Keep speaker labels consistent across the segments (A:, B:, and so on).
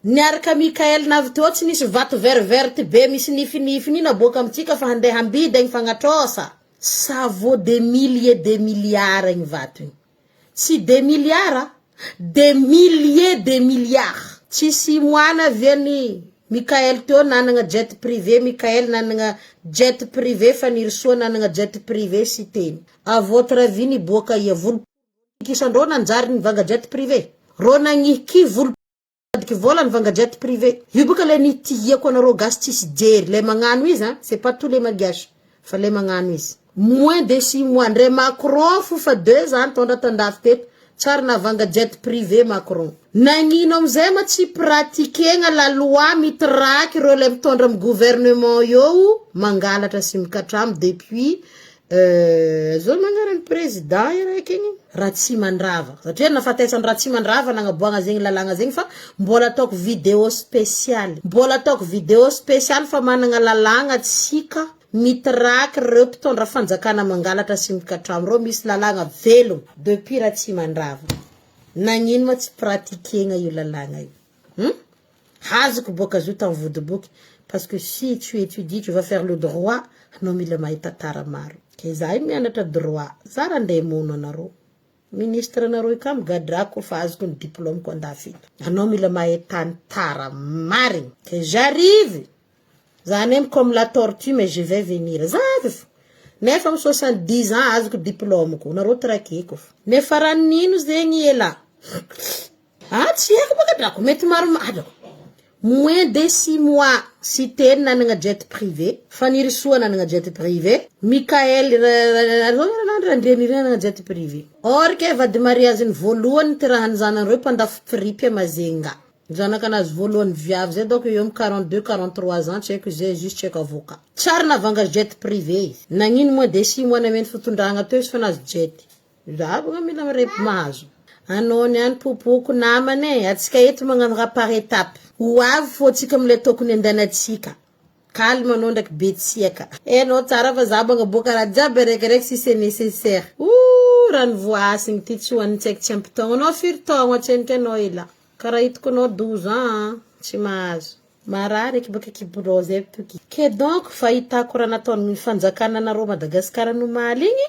A: Niaraka Mickael navy teo tsy nisy vato vert vert be misy nify nify ni naboaka amintsika fa handeha hambidy agny fagnatrôsa. Ça vaut des milliers des milliards igny vato igny. Tsy des milliards a! Des milliers des milliards. Tsisy imoana ve ny Mickael teo nanagna jet privé Mickael nanagna jet privé Fanirisoa nanagna jet privé Siteny. A votre avis niboaka aia volom-pokikisa ndrô nanjary nivanga jet privé? Rô nagnihy ki volom-pokikisa? Mitadiky vola ny vanga jet privé. Io baka le nitihiako anareo gasy tsisy jery le magnano izy an, c'est pas tous les malgaches fa le magnano izy. Moins de six mois ndre Macron fo fa deux za nitondra tandafy teto, tsy ary navanga jet privé Macron. Nagnino amzay ma tsy pratiquegna la loi mitraky reo le mitondra am gouvernement eo mangalatra sy mikatramo depuis Euh zao magnarany prezida iraika igny Ratsimandrava satria nafatesan Ratsimandrava nagnaboagna zegny lalagna zegny fa mbola ataoko video spesialy mbola ataoko video spesialy fa managna lalagna tsika mitiraky reo mpitondra fanjakana mangalatra sy mikatrano reo misy lalagna velogno depuis Ratsimandrava nagnino ma tsy pratiquena io lalagna io hum. Hazoko boka azo tam vodiboky parce que si tu étudies tu vas faire le droit anao mila mahay tantara maro ke zahay mianatra droit za ra ndeha mono anareo ministre nareo io ka migadrako ko fa azoko ny diplôme ko andafy eto anao mila mahay tantara marigny ke j'arrive za nem comme la tortue mais je vais venir za avy fô nefa am soixante dix ans azoko diplôme ko nareo traquer ko fa nefa ra nino zegny elah Ah tsy haiko bôka drako mety maromaro drako moins de six mois sy telo nanagna jet privé, Fanirisoa nanagna jet privé, Mickaël Randrianirina nanagna jet privé, or ke vady mariage-ny voalohany nitirahan'ny zanany roe mpandafo pripy à Majunga, zanakanazy voalohany viavy zay donc eo am quarante deux quarante trois ans tsy haiko izy zay juste tsy haiko avocat, tsy ary navanga jet privé izy, nagnino moins de six mois nameno fitondragna teo izy fa nahazo jet. Zahavy nga mila mirepy mahazo anao ny any popoako namana e atsika eto magnano raha par etape ho avy fô tsika mila tokony andanatsika calme anao ndraiky betsiaka e anao tsara fa za banga boaka raha jiaby araikaraiky si c'est necessaire ooh raha ny voahasigny ty tsy ho an'ny tsaiky tsy ampy taogno anao firy taogno atseniko anao elah ka raha hitako anao douze ans an tsy mahazo marary eky baka eky birao zay toky ke donc fahitako raha nataon'ny fanjakana anareo Madagascar nomaly igny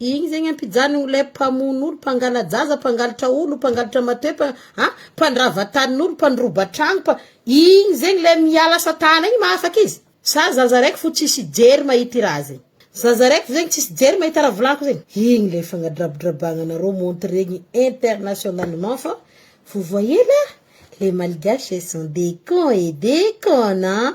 A: Igny zegny ampijanogno ilay mpamono olo, mpangala-jaza, mpangalatra olo, mpangalatra matoepa, an, mpandrava tanin'olo, mpandroba tragno, mpa- igny zegny le miala asa tana igny mahafaka izy? Sa zaza raiky fo tsisy hijery mahita i raha zegny? Zaza raiky fo zegny tsisy hijery mahita raha volagniky zegny? Igny le fagnadrabodrabagnanareo montregny internationalement fa vous voyez là, les malgaches sont des cons et des connes an!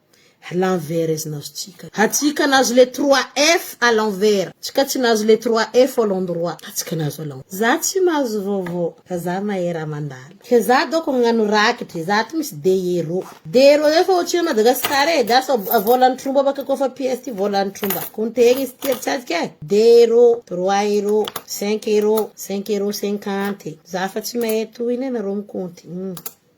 A: A l'envers nazo tsika. A tsika nazo le trois F a l'envers. Tsika tsy nazo le trois F a l'endroit. A tsika nazo a l'envers. Za tsy mahazo vaovao. Fa za mahay raha mandalo. Ka za daoko agnano rakitry. Za aty misy deero. Deero zay fa otrino Madagascar e. Gasy fa volan tromba baka ko fa pièce ty volan tromba. Compte egny izy ty atsika e. Deero, trois euro, cinq euro, cinq euro cinquante. Za fa tsy mahay tohiny e nareo mi compte.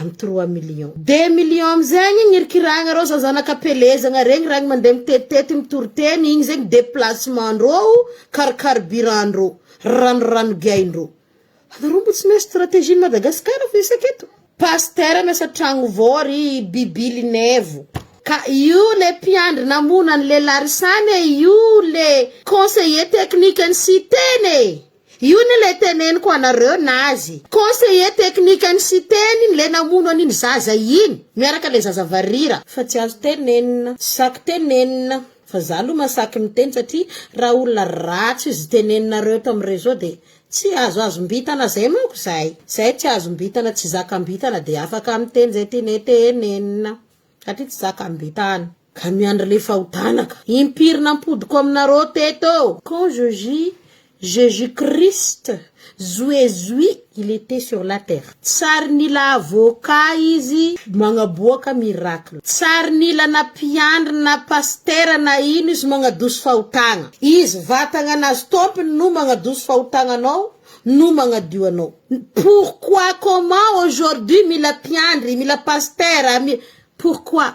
A: am trois millions. Des millions am zegny igny irikiragna reo zao zanaka pelezagna regny ragny mande mitetitety mitoriteny igny zegny deplacement ndroo car carburant ndroo rano rano giahy ndroo anareo mbo tsy miasa strategie ny Madagascar fa isaka eto pasteur miasa tragno vao ry bibily nevo ka io le mpiandry namono anle larisane io le conseiller technique ny siteny e. Io ny le teneniko anareo nazy conseiller technique an'i Siteny le namono an'iny zaza iny miaraka le zaza varira. Fa tsy azo tenenina, tsy saky tenenina, fa za aloha masaky miteny satria raha olona ratsy izy teneninareo eto am réseau de tsy azo azombitana zay manko zay, zay tsy azombitana tsy zakambitana de afaka miteny zay tianay tenenina satria tsy zakambitana. Ka miandry le fahotana ka. Impiry nampodiko aminareo teto. Quand je jus Jesus Christ Zoe Zoe il etait sur la terre. Tsary nila avocat izy magnaboaka miracle. Tsary nila na mpiandry na pasitera na ino izy magnadoso fahotagna. Izy vatagna nazy tompony no magnadoso fahotagna anao no magnadio anao. Pourquoi comment aujourd'hui mila mpiandry mila pasitera mi pourquoi.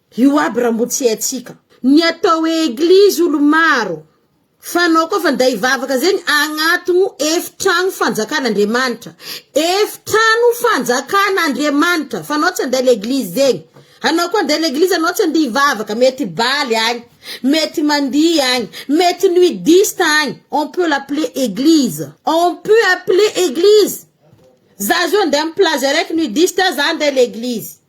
A: Io aby raha mbo tsy haintsika. Ny atao hoe eglizy olo maro fanao koa fa nday hivavaka zegny agnatogno efitragno fanjakan Andriamanitra efitrano fanjakan Andriamanitra fanao tsy andeha leglizy zegny anao koa andeha leglizy anao tsy andeha hivavaka mety baly agny mety mandihy agny mety nudiste agny on peut l'appeler eglizy on peut appeler eglizy za zao andeha am plage araiky nudiste za andeha leglizy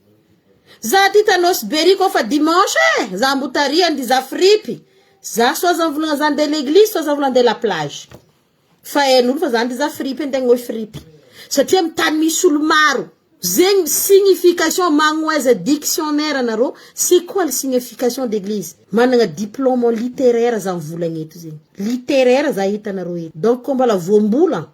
A: Za aty tanosy bery ko fa dimanche eh za mbo tarihan ry za fripy za so aza mivolagna za nde leglizy so aza mivolagna nde la plage fa hainolo fa za nde za fripy nde agnohy fripy satria am tany misy olo maro zegny signification magnoeza dictionnaire narô c'est quoi le signification d'eglizy managna diplôme en littéraire za mivolagna eto zegny littéraire za hitanarô eto donc ko mbola voambola.